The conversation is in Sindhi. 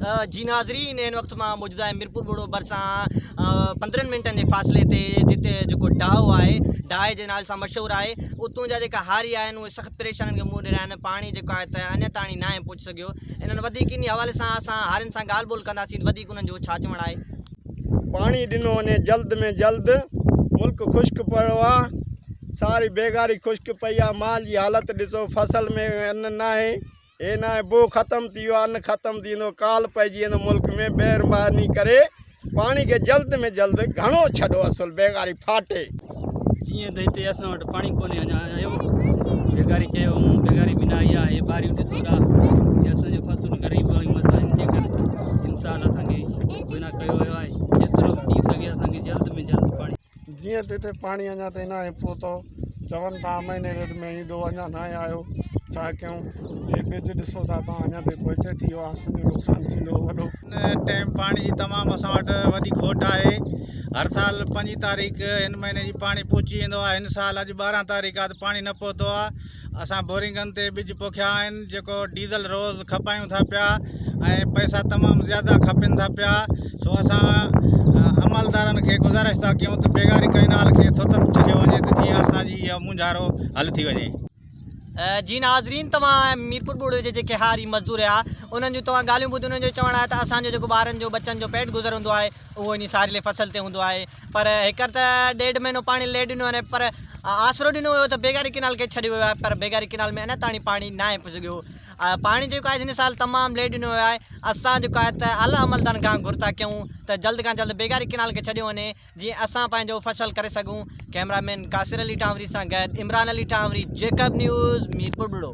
جي ناظرين هن وقت مان موجود آهيان ميرپور ٻوڙو ڀرسان پندرهن منٽن جي فاصلي تي جتي جيڪو ڊاهو آهي ڊاهي جي نالي سان مشهور آهي اتون جا جيڪا هاري آهن اهي سخت پريشانين کي منهن ڏيرا آهن پاڻي جيڪو آهي ته اڃا تاڻي نه آهي پهچي سگهيو انهن وڌيڪ انهي حوالي سان اسان هارين سان ڳالهه ٻولهه ڪنداسين وڌيڪ انهن جو ڇا چوڻ آهي پاڻي ڏنو وڃي جلد ۾ جلد ملڪ خشڪ پيو آهي ساري بيگاري خشڪ پئي آهي مال جي حالت ڏسو فصل ۾ ان ناهي هي ناهي بوء ختم ٿي ويو آهي نه ختم ٿيندو ڪال پئجي ويندو ملڪ ۾ مهرباني ڪري پاڻي کي جلد ۾ جلد گهڻو ڇڏو اصل بيگاري ڦاٽي. جيئن ته هتي اسان وٽ پاڻي ڪونهي اڃا آيو بيگاري چيو هون بيگاري به نه آئي آهي هي ٻاريون ڏسو ٿا هي اسان جون فصلون غريب واريون مزدورين جي ڪري امسال اسان کي ڪوئي نه ڪيو ويو آهي جيترو به ٿي سگهي اسان کي جلد ۾ جلد پاڻي جيئن ته هتي پاڻي اڃا تائين ناهي پهتو چون ٿا امائني ريڊ ۾ ايندو اڃا ناهي آيو ڇا ڪيون هي ٻج ڏسو ٿا توهان اڃا تائين پوئتي ٿي ويو آسن جو نقصان ٿيندو وڏو هن ٽائيم پاڻي جي تمام اسان وٽ وڏي کوٽ آهي هر سال پنجين تاريخ هن مهيني جي پاڻي پهچي ويندو آهي هن سال اڄ ٻارهن تاريخ آهي ته پاڻي نه پهتو آهي اسان بورنگن تي ٻج پوکيا آهن جيڪو ڊيزل روز کپايون ٿا پيا ۽ پئسا تمام زياده کپن ٿا پيا سو اسان عملدارن کي گذارش ٿا ڪيون ته بيگاري ڪئنال کي ستت ڇڏيو وڃي ته جيئن اسان جي اهو مونجهارو حل ٿي وڃي. جي ناظرين توهان ميرپور ٻوڙ جي جيڪي هاري مزدور هيا انهن جون توهان ڳالهيون ٻڌيون انهن جو چوڻ آهي ته اسان جو جيڪو ٻارن جو ٻچن جو پيٽ گذر هوندو آهي اهو انهي ساريلي فصل تي هوندو آهي پر هيڪر ته ڏيڍ مهينو پاڻي لي ڏنو آهي پر آسرو ڏنو ويو ته بيگاري ڪينال کي ڇڏيو ويو آهي پر بيگاري ڪينال ۾ اڃا تائين پاڻي نه آهي پڄڳيو پاڻي جيڪو آهي هن سال تمام لي ڏنو ويو آهي اسان جيڪو آهي ته اعليٰ عملدارن کان گهر ٿا ڪيون ته جلد کان جلد بيگاري ڪينال کي ڇڏيو وڃي جيئن اسان پنهنجو فصل ڪري سگهون ڪئميرا مين قاصر علي ٽانوري سان گڏ عمران علي ٽانوري جيڪب نيوز ميرپور ٻڙو